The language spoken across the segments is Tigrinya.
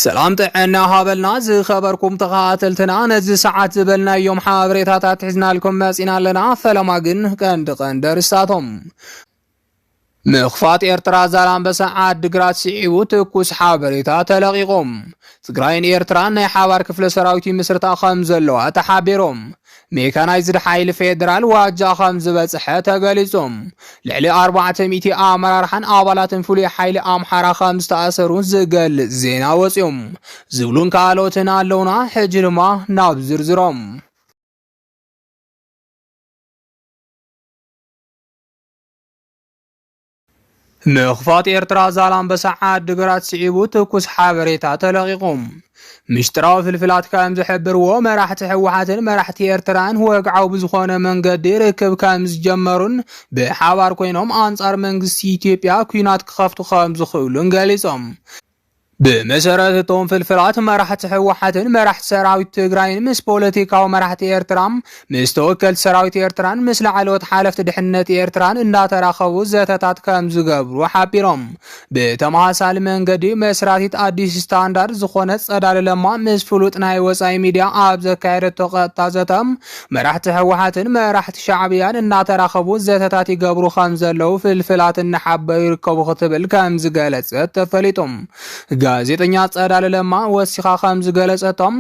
ሰላም ጥዕና ሃበልና ዝኸበርኩም ተኸታተልትና ነዚ ሰዓት ዝበልናዮም ሓበሬታታት ሒዝናልኩም መጺና ኣለና ፈለማ ግን ቀንዲ ቀንዲ ኣርስታቶም ምኽፋት ኤርትራ ዛላምበሳ ዓድግራት ስዒቡ ትኩስ ሓበሬታ ተለቒቖም ትግራይን ኤርትራን ናይ ሓባር ክፍለ ሰራዊት ይምስርታ ከም ዘለዋ ተሓቢሮም ሜካናይዝድ ሓይሊ ፌዴራል ዋጃ ከም ዝበፅሐ ተገሊፁ። ልዕሊ ኣርባዕተ ሚእቲ ኣመራርሓን ኣባላትን ፍሉይ ሓይሊ ኣምሓራ ከም ዝተኣሰሩ ዝገልፅ ዜና ወፅዩ ዝብሉን ካልኦትን ኣለውና። ሕጂ ድማ ናብ ዝርዝሮም ምኽፋት ኤርትራ ዛላምበሳ ዓዲ ግራት ስዒቡ ትኩስ ሓበሬታ ተለቒቑ። ምሽጥራዊ ፍልፍላት ከምዝሕብርዎ መራሕቲ ህወሓትን መራሕቲ ኤርትራን ወግዓዊ ብዝኾነ መንገዲ ርክብ ከምዝጀመሩን ብሓባር ኮይኖም ኣንጻር መንግስቲ ኢትዮጵያ ኲናት ክኸፍቱ ከምዝኽእሉን ገሊጾም። ብመሰረት እቶም ፍልፍላት መራሕቲ ህወሓትን መራሕቲ ሰራዊት ትግራይን ምስ ፖለቲካዊ መራሕቲ ኤርትራ ምስ ተወከልቲ ሰራዊት ኤርትራን ምስ ላዕለዎት ሓለፍቲ ድሕነት ኤርትራን እንዳተራኸቡ ዘተታት ከም ዝገብሩ ሓቢሮም። ብተመሳሳሊ መንገዲ መስራቲት ኣዲስ ስታንዳርድ ዝኾነት ጸዳለ ለማ ምስ ፍሉጥ ናይ ወጻኢ ሚድያ ኣብ ዘካየደቶ ቀጥታ ዘተ መራሕቲ ህወሓትን መራሕቲ ሻዕብያን እናተራኸቡ ዘተታት ይገብሩ ከምዘለዉ ፍልፍላት እናሓበሩ ይርከቡ ክትብል ከምዝገለጸት ተፈሊጡ። ጋዜጠኛ ጸዳለ ለማ ወሲኻ ከምዝገለጸቶም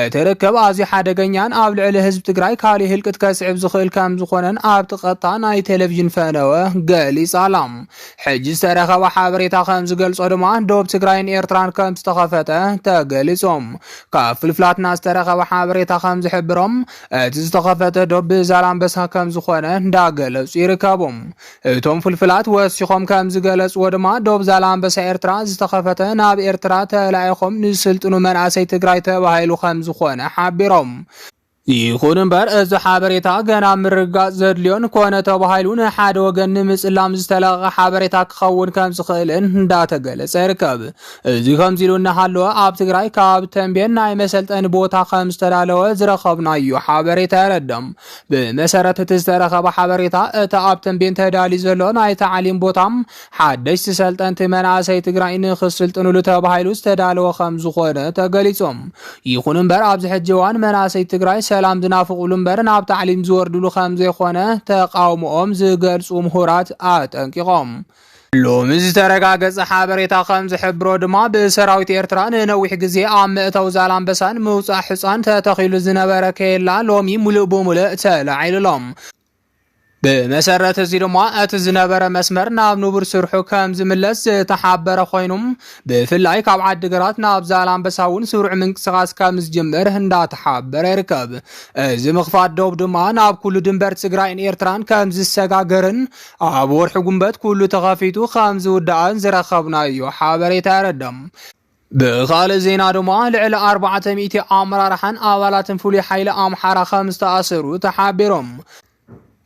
እቲ ርክብ ኣዝዩ ሓደገኛን ኣብ ልዕሊ ህዝቢ ትግራይ ካሊእ ህልቂት ከስዕብ ዝኽእል ከምዝኾነን ኣብቲ ቀጥታ ናይ ቴሌቪዥን ፈነወ ገሊጻ ኣላ። ሕጂ ዝተረኸበ ሓበሬታ ከምዝገልጾ ድማ ዶብ ትግራይን ኤርትራን ከምዝተኸፈተ ተገሊጹ። ካብ ፍልፍላትና ዝተረኸበ ሓበሬታ ከም ዝሕብሮ እቲ ዝተኸፈተ ዶብ ብዛላምበሳ ከም ዝኾነ እንዳገለጹ ይርከቡ። እቶም ፍልፍላት ወሲኾም ከም ዝገለጽዎ ድማ ዶብ ዛላምበሳ ኤርትራ ዝተኸፈተ ናብ ኤርትራ ተላኢኾም ንዝስልጥኑ መናእሰይ ትግራይ ተባሂሉ ከም ዝኾነ ሓቢሮም። ይኹን እምበር እዚ ሓበሬታ ገና ምርግጋጽ ዘድልዮን ኮነ ተባሂሉ ንሓደ ወገን ንምጽላም ዝተለቐቐ ሓበሬታ ክኸውን ከም ዝኽእልን እንዳተገለጸ ይርከብ። እዚ ከምዚ ኢሉ እናሃለወ ኣብ ትግራይ ካብ ተንቤን ናይ መሰልጠኒ ቦታ ከም ዝተዳለወ ዝረኸብናዮ ሓበሬታ የረድም። ብመሰረት እቲ ዝተረኸበ ሓበሬታ እቲ ኣብ ተንቤን ተዳልዩ ዘሎ ናይ ታዕሊም ቦታ ሓደሽቲ ሰልጠንቲ መናእሰይ ትግራይ ንክስልጥንሉ ተባሂሉ ዝተዳለወ ከም ዝኾነ ተገሊጹ። ይኹን እምበር ኣብዚ ሕጂ እዋን መናእሰይ ትግራይ ሰላም ዝናፍቕሉ እምበር ናብ ታዕሊም ዝወርድሉ ከም ዘይኾነ ተቓውምኦም ዝገልጹ ምሁራት ኣጠንቂቖም። ሎሚ ዝተረጋገጸ ሓበሬታ ከም ዝሕብሮ ድማ ብሰራዊት ኤርትራ ንነዊሕ ግዜ ኣብ መእተዊ ዛላምበሳን ምውጻእ ሕጻን ተተኺሉ ዝነበረ ኬላ ሎሚ ሙሉእ ብሙሉእ ተላዒሉሎም ብመሰረት እዚ ድማ እቲ ዝነበረ መስመር ናብ ንቡር ስርሑ ከም ዝምለስ ዝተሓበረ ኮይኑ ብፍላይ ካብ ዓዲግራት ናብ ዛላምበሳ እውን ስሩዕ ምንቅስቃስ ከም ዝጅምር እንዳተሓበረ ይርከብ። እዚ ምኽፋት ዶብ ድማ ናብ ኩሉ ድንበር ትግራይን ኤርትራን ከም ዝሰጋገርን ኣብ ወርሒ ጉንበት ኩሉ ተኸፊቱ ከም ዝውዳእን ዝረኸብናዮ ሓበሬታ የረድም። ብኻልእ ዜና ድማ ልዕሊ ኣርባዕተ ሚእቲ ኣመራርሓን ኣባላትን ፍሉይ ሓይሊ ኣምሓራ ከም ዝተኣሰሩ ተሓቢሮም።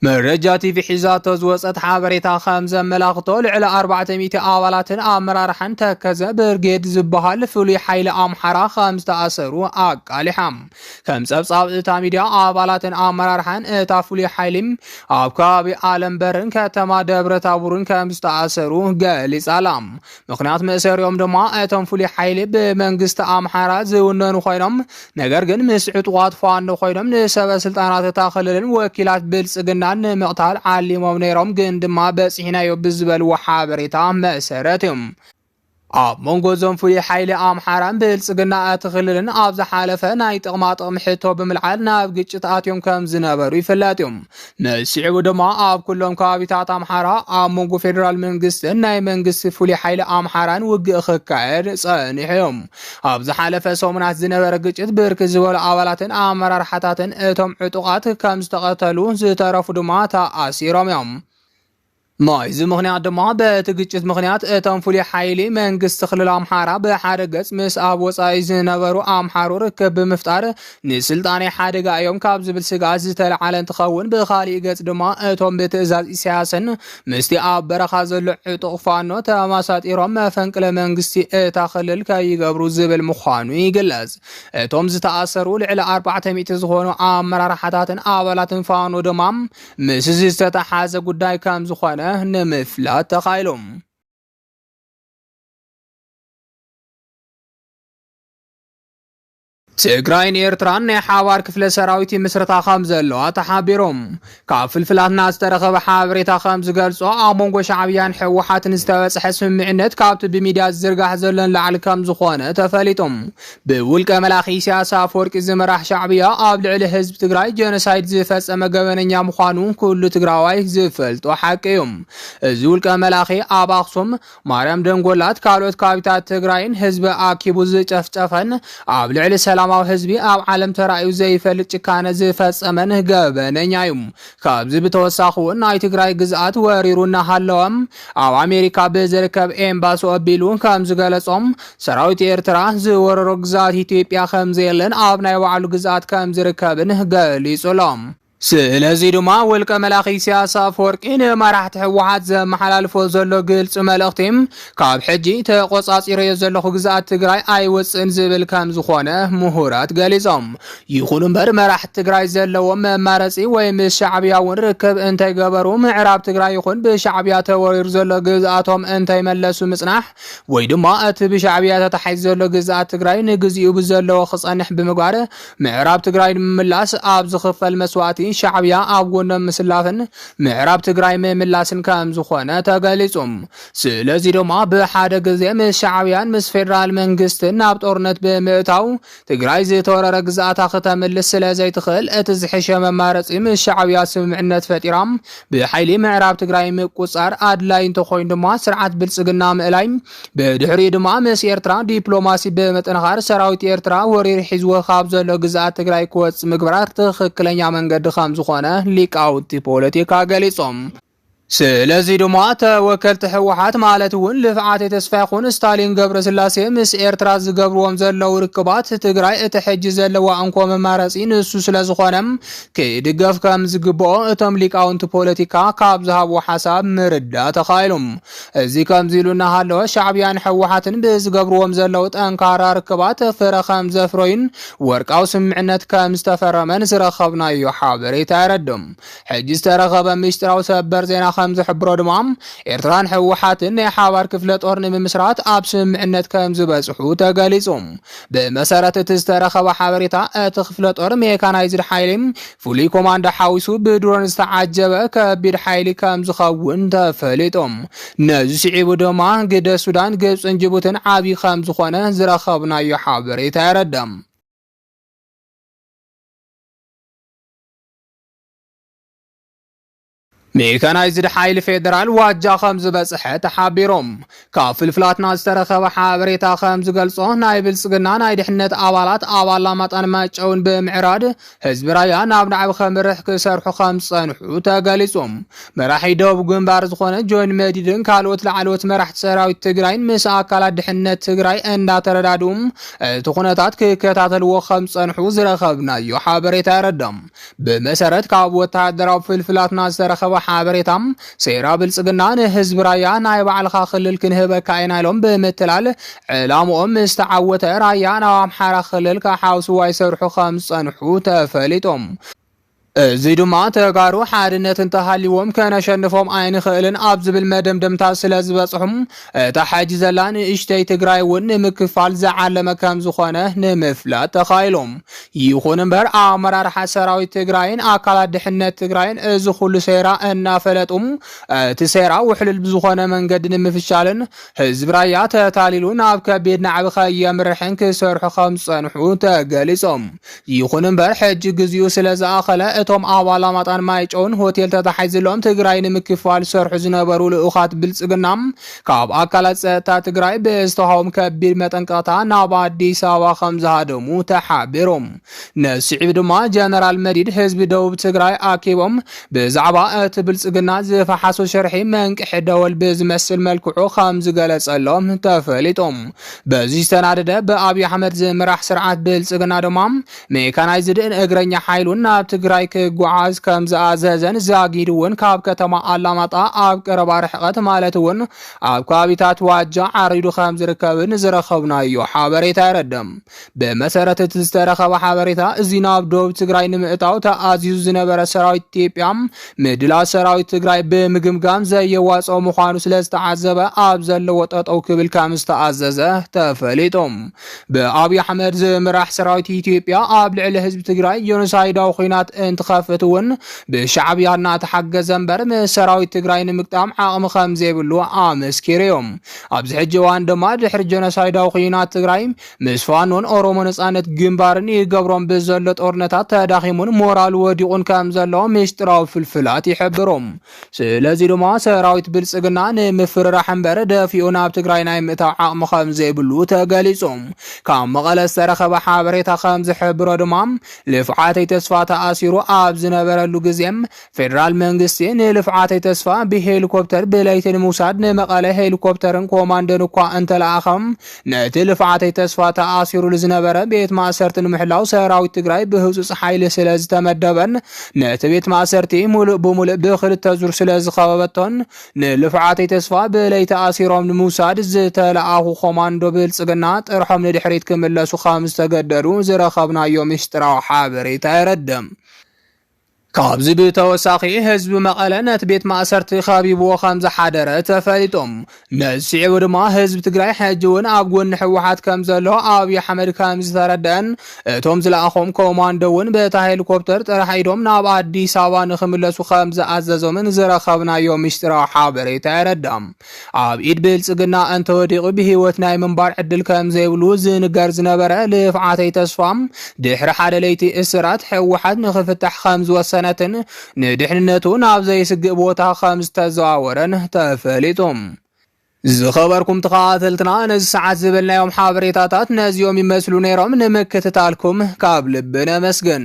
መረጃ ቲቪ ሒዛቶ ዝወፀት ሓበሬታ ከም ዘመላኽቶ ልዕሊ ኣርባዕተ ሚእቲ ኣባላትን ኣመራርሓን ተከዘ ብርጌድ ዝበሃል ፍሉይ ሓይሊ ኣምሓራ ከም ዝተኣሰሩ ኣቃሊሓ። ከም ፀብፃብ እታ ሚድያ ኣባላትን ኣመራርሓን እታ ፍሉይ ሓይሊ ኣብ ከባቢ ኣለም በርን ከተማ ደብረ ታቡርን ከም ዝተኣሰሩ ገሊፃ ኣላ። ምክንያት መእሰሪኦም ድማ እቶም ፍሉይ ሓይሊ ብመንግስቲ ኣምሓራ ዝውነኑ ኮይኖም ነገር ግን ምስ ዕጡቓት ፋኖ ኮይኖም ንሰበ ስልጣናት እታ ክልልን ወኪላት ብልፅግናን ንምቕታል ዓሊሞም ነይሮም ግን ድማ በፂሕናዮ ብዝበልዎ ሓበሬታ መሰረት እዮም ኣብ መንጎ እዞም ፍሉይ ሓይሊ ኣምሓራን ብልፅግና እቲ ክልልን ኣብ ዝሓለፈ ናይ ጥቕማ ጥቕሚ ሕቶ ብምልዓል ናብ ግጭት ኣትዮም ከም ዝነበሩ ይፍለጥ እዮም ንስዒቡ ድማ ኣብ ኩሎም ከባቢታት ኣምሓራ ኣብ መንጎ ፌደራል መንግስትን ናይ መንግስቲ ፍሉይ ሓይሊ ኣምሓራን ውግእ ክካየድ ጸኒሑ እዩ። ኣብ ዝሓለፈ ሰሙናት ዝነበረ ግጭት ብርክት ዝበሉ ኣባላትን ኣመራርሓታትን እቶም ዕጡቓት ከም ዝተቐተሉ ዝተረፉ ድማ ተኣሲሮም እዮም። ናይዚ ምኽንያት ድማ በቲ ግጭት ምኽንያት እቶም ፍሉይ ሓይሊ መንግስቲ ክልል ኣምሓራ ብሓደ ገጽ ምስ ኣብ ወጻኢ ዝነበሩ ኣምሓሩ ርክብ ብምፍጣር ንስልጣነይ ሓደጋ እዮም ካብ ዝብል ስግኣት ዝተለዓለ እንትኸውን ብኻሊእ ገጽ ድማ እቶም ብትእዛዝ ኢሳያስን ምስቲ ኣብ በረኻ ዘሎ ዕጡቕ ፋኖ ተመሳጢሮም መፈንቅለ መንግስቲ እታ ክልል ከይገብሩ ዝብል ምዃኑ ይግለጽ። እቶም ዝተኣሰሩ ልዕሊ ኣርባዕተ ሚእቲ ዝኾኑ ኣመራርሓታትን ኣባላትን ፋኖ ድማ ምስዚ ዝተተሓዘ ጉዳይ ከምዝኾነ ንምፍላጥ ተኻኢሉ። ትግራይን ኤርትራን ናይ ሓባር ክፍለ ሰራዊት ይምስረታ ከም ዘለዋ ተሓቢሮም ካብ ፍልፍላትና ዝተረኸበ ሓበሬታ ከም ዝገልጾ ኣብ መንጎ ሻዕብያን ሕወሓትን ዝተበጽሐ ስምምዕነት ካብቲ ብሚድያ ዝዝርጋሕ ዘሎን ላዕሊ ከም ዝኾነ ተፈሊጦም ብውልቀ መላኺ ኢሳያስ ኣፈወርቂ ዝምራሕ ሻዕብያ ኣብ ልዕሊ ህዝቢ ትግራይ ጀኖሳይድ ዝፈጸመ ገበነኛ ምዃኑ ኩሉ ትግራዋይ ዝፈልጦ ሓቂ እዩ። እዚ ውልቀ መላኺ ኣብ ኣኽሱም፣ ማርያም ደንጎላት ካልኦት ካቢታት ትግራይን ህዝቢ ኣኪቡ ዝጨፍጨፈን ኣብ ልዕሊ ሰላማዊ ህዝቢ ኣብ ዓለም ተራእዩ ዘይፈልጥ ጭካነ ዝፈጸመን ገበነኛ እዩ። ካብዚ ብተወሳኺ እውን ናይ ትግራይ ግዝኣት ወሪሩ እናሃለወ ኣብ ኣሜሪካ ብዝርከብ ኤምባሲ ኣቢሉ ከም ዝገለጾ ሰራዊት ኤርትራ ዝወረሮ ግዝኣት ኢትዮጵያ ከም ዘየለን ኣብ ናይ ባዕሉ ግዝኣት ከም ዝርከብን ገሊጹ ኣሎ። ስለዚ ድማ ውልቀ መላኺ ኢሳያስ ኣፈወርቂ ንመራሕቲ ህወሓት ዘመሓላልፎ ዘሎ ግልፂ መልእኽቲ ካብ ሕጂ ተቖጻጺረዮ ዘለኹ ግዝኣት ትግራይ ኣይወጽእን ዝብል ከም ዝኾነ ምሁራት ገሊጾም። ይኹን እምበር መራሕቲ ትግራይ ዘለዎም መማረጺ ወይ ምስ ሻዕብያ እውን ርክብ እንተይገበሩ ምዕራብ ትግራይ ይኹን ብሻዕብያ ተወሪሩ ዘሎ ግዝኣቶም እንተይመለሱ ምጽናሕ ወይ ድማ እቲ ብሻዕብያ ተታሒዙ ዘሎ ግዝኣት ትግራይ ንግዚኡ ብዘለዎ ክጸንሕ ብምግባር ምዕራብ ትግራይ ንምምላስ ኣብ ዝኽፈል መስዋእቲ ሻዕብያ ኣብ ጎኖም ምስላፍን ምዕራብ ትግራይ ምምላስን ከም ዝኾነ ተገሊጹ። ስለዚ ድማ ብሓደ ግዜ ምስ ሻዕብያን ምስ ፌደራል መንግስትን ናብ ጦርነት ብምእታው ትግራይ ዝተወረረ ግዝኣታ ክተምልስ ስለ ዘይትኽእል እቲ ዝሕሸ መማረፂ ምስ ሻዕብያ ስምምዕነት ፈጢራ ብሓይሊ ምዕራብ ትግራይ ምቁፃር ኣድላይ እንተኾይኑ ድማ ስርዓት ብልፅግና ምእላይ ብድሕሪኡ ድማ ምስ ኤርትራ ዲፕሎማሲ ብምጥንኻር ሰራዊት ኤርትራ ወሪር ሒዝዎ ካብ ዘሎ ግዝኣት ትግራይ ክወፅ ምግባር ትኽክለኛ መንገዲ ከም ዝኾነ ሊቃውቲ ፖለቲካ ገሊፆም። ስለዚ ድማ ተወከልቲ ህወሓት ማለት እውን ልፍዓተይ ተስፋይኹን ስታሊን ገብረስላሴ ምስ ኤርትራ ዝገብርዎም ዘለዉ ርክባት ትግራይ እቲ ሕጂ ዘለዋ እንኮ መማረፂ ንሱ ስለዝኾነ ክድገፍ ከም ዝግብኦ እቶም ሊቃውንቲ ፖለቲካ ካብ ዝሃብዎ ሓሳብ ምርዳእ ተኻኢሉ። እዚ ከምዚ ኢሉ እናሃለወ ሻዕብያን ህወሓትን ብዝገብርዎም ዘለዉ ጠንካራ ርክባት ፍረ ከም ዘፍረዩን ወርቃዊ ስምምዕነት ከም ዝተፈረመን ዝረኸብናዮ ሓበሬታ የረድእ። ሕጂ ዝተረኸበ ምስጢራዊ ሰበር ዜና ከም ዝሕብሮ ድማ ኤርትራን ህወሓትን ናይ ሓባር ክፍለ ጦር ንምምስራት ኣብ ስምምዕነት ከም ዝበጽሑ ተገሊጹ። ብመሰረት እቲ ዝተረኸበ ሓበሬታ እቲ ክፍለ ጦር ሜካናይዝድ ሓይሊ ፍሉይ ኮማንዶ ሓዊሱ ብድሮን ዝተዓጀበ ከቢድ ሓይሊ ከም ዝኸውን ተፈሊጡ። ነዚ ስዒቡ ድማ ግደ ሱዳን፣ ግብጽን ጅቡትን ዓብዪ ከም ዝኾነ ዝረኸብናዮ ሓበሬታ የረድእ። ሜካናይዝድ ሓይሊ ፌዴራል ዋጃ ከም ዝበፅሐ ተሓቢሮም ካብ ፍልፍላትና ዝተረኸበ ሓበሬታ ከም ዝገልጾ ናይ ብልፅግና ናይ ድሕነት ኣባላት ኣብ ኣላማጣን መጨውን ብምዕራድ ህዝቢ ራያ ናብ ናዕቢ ከምርሕ ክሰርሑ ከም ዝፀንሑ ተገሊጾም መራሒ ደቡብ ግንባር ዝኾነ ጆን መዲድን ካልኦት ላዕለዎት መራሕቲ ሰራዊት ትግራይን ምስ ኣካላት ድሕነት ትግራይ እንዳተረዳድኡም እቲ ኩነታት ክከታተልዎ ከም ዝፀንሑ ዝረኸብናዮ ሓበሬታ የረዳም ብመሰረት ካብ ወተሃደራዊ ፍልፍላትና ዝተረኸበ ሓበሬታ ሴራ ብልፅግና ንህዝቢ ራያ ናይ ባዕልኻ ክልል ክንህበካ ኢና ኢሎም ብምትላል ዕላምኦም ምስ ተዓወተ ራያ ናብ ኣምሓራ ክልል ክሓውስዋ ይሰርሑ ከም ዝፀንሑ ተፈሊጦም እዚ ድማ ተጋሩ ሓድነት እንተሃልይዎም ከነሸንፎም ኣይንኽእልን ኣብ ዝብል መደምደምታ ስለዝበፅሑ እታ ሕጂ ዘላ ንእሽተይ ትግራይ እውን ንምክፋል ዝዓለመ ከምዝኾነ ንምፍላጥ ተኻኢሉ። ይኹን እምበር ኣመራርሓ ሰራዊት ትግራይን ኣካላት ድሕነት ትግራይን እዚ ኩሉ ሴራ እናፈለጡ እቲ ሴራ ውሕሉል ብዝኾነ መንገዲ ንምፍሻልን ህዝቢ ራያ ተታሊሉ ናብ ከቢድ ናዕቢ ከየምርሕን ክሰርሑ ከምዝፀንሑ ተገሊፁ። ይኹን እምበር ሕጂ ግዚኡ ስለዝኣኸለ እቶም ኣብ ኣላማጣን ማይጨውን ሆቴል ተታሒዝሎም ትግራይ ንምክፋል ዝሰርሑ ዝነበሩ ልኡኻት ብልፅግና ካብ ኣካላት ፀጥታ ትግራይ ብዝተዋህቦም ከቢድ መጠንቀቕታ ናብ ኣዲስ ኣበባ ከምዝሃደሙ ተሓቢሩ። ነዚ ስዒቡ ድማ ጀነራል መዲድ ህዝቢ ደቡብ ትግራይ ኣኪቦም ብዛዕባ እቲ ብልፅግና ዝፈሓሶ ሽርሒ መንቅሒ ደወል ብዝመስል መልክዑ ከምዝገለፀሎም ተፈሊጦም በዚ ዝተናደደ ብኣብዪ ኣሕመድ ዝምራሕ ስርዓት ብልፅግና ድማ ሜካናይዝድን እግረኛ ሓይሉን ናብ ትግራይ ክጓዓዝ ከም ዝኣዘዘን ዛጊድ እውን ካብ ከተማ ኣላማጣ ኣብ ቀረባ ርሕቐት ማለት እውን ኣብ ከባቢታት ዋጃ ዓሪዱ ከም ዝርከብን ዝረኸብናዮ ሓበሬታ የረድእ። ብመሰረት እቲ ዝተረኸበ ሓበሬታ እዚ ናብ ደቡብ ትግራይ ንምእታው ተኣዚዙ ዝነበረ ሰራዊት ኢትዮጵያ ምድላው ሰራዊት ትግራይ ብምግምጋም ዘየዋፅኦ ምዃኑ ስለ ዝተዓዘበ ኣብ ዘለዎ ጠጠው ክብል ከም ዝተኣዘዘ ተፈሊጡ። ብኣብዪ ኣሕመድ ዝምራሕ ሰራዊት ኢትዮጵያ ኣብ ልዕሊ ህዝቢ ትግራይ ጆኖሳይዳዊ ኩናት እንትኸፍት እውን ብሻዕብያ እናተሓገዘ እምበር ምስ ሰራዊት ትግራይ ንምግጣም ዓቕሚ ከም ዘይብሉ ኣመስኪሩ እዩ። ኣብዚ ሕጂ እዋን ድማ ድሕሪ ጆኖሳይዳዊ ኩናት ትግራይ ምስ ፋኖን ኦሮሞ ነጻነት ግንባርን ይገብሮም ብዘሎ ጦርነታት ተዳኺሙን ሞራሉ ወዲቑን ከም ዘሎ ምስጢራዊ ፍልፍላት ይሕብሩ። ስለዚ ድማ ሰራዊት ብልጽግና ንምፍርራሕ እምበር ደፊኡ ናብ ትግራይ ናይ ምእታው ዓቕሚ ከም ዘይብሉ ተገሊጹ። ካብ መቐለ ዝተረኸበ ሓበሬታ ከም ዝሕብሮ ድማ ልፍዓተይ ተስፋ ተኣሲሩ ኣብ ዝነበረሉ ግዜ ፌደራል መንግስቲ ንልፍዓተይ ተስፋ ብሄሊኮፕተር ብለይቲ ንምውሳድ ንመቐለ ሄሊኮፕተርን ኮማንዶን እኳ እንተለኣኸ ነቲ ልፍዓተይ ተስፋ ተኣሲሩሉ ዝነበረ ቤት ማእሰርቲ ንምሕላው ሰራዊት ትግራይ ብህፁፅ ሓይሊ ስለ ዝተመደበን ነቲ ቤት ማእሰርቲ ሙሉእ ብሙሉእ ብክልተ ዙር ስለ ዝኸበበቶን ንልፍዓተይ ተስፋ ብለይቲ ኣሲሮም ንምውሳድ ዝተለኣኹ ኮማንዶ ብልፅግና ጥርሖም ንድሕሪት ክምለሱ ከም ዝተገደዱ ዝረኸብናዮ ምስጢራዊ ሓበሬታ የረድእ። ካብዚ ብተወሳኺ ህዝቢ መቐለ ነቲ ቤት ማእሰርቲ ከቢብዎ ከምዝሓደረ ተፈሊጡ። ነዚ ስዒቡ ድማ ህዝቢ ትግራይ ሕጂ እውን ኣብ ጎኒ ህወሓት ከምዘሎ ኣብዪ ኣሕመድ ከምዝተረደአን እቶም ዝለኣኾም ኮማንዶ እውን በታ ሄሊኮፕተር ጥራሕ ኢዶም ናብ ኣዲስ ኣበባ ንክምለሱ ከምዝኣዘዞምን ዝረኸብናዮ ምስጢራዊ ሓበሬታ የረዳም። ኣብ ኢድ ብልፅግና እንተወዲቑ ብህይወት ናይ ምንባር ዕድል ከም ዘይብሉ ዝንገር ዝነበረ ልፍዓተይ ተስፋ ድሕሪ ሓደ ለይቲ እስራት ህወሓት ንክፍታሕ ከም ዝወሰነትን ንድሕንነቱ ናብ ዘይስግእ ቦታ ከም ዝተዘዋወረን ተፈሊጡ። ዝኸበርኩም ተኸታተልትና ነዚ ሰዓት ዝበልናዮም ሓበሬታታት ነዚኦም ይመስሉ ነይሮም። ንምክትታልኩም ካብ ልቢ ነመስግን።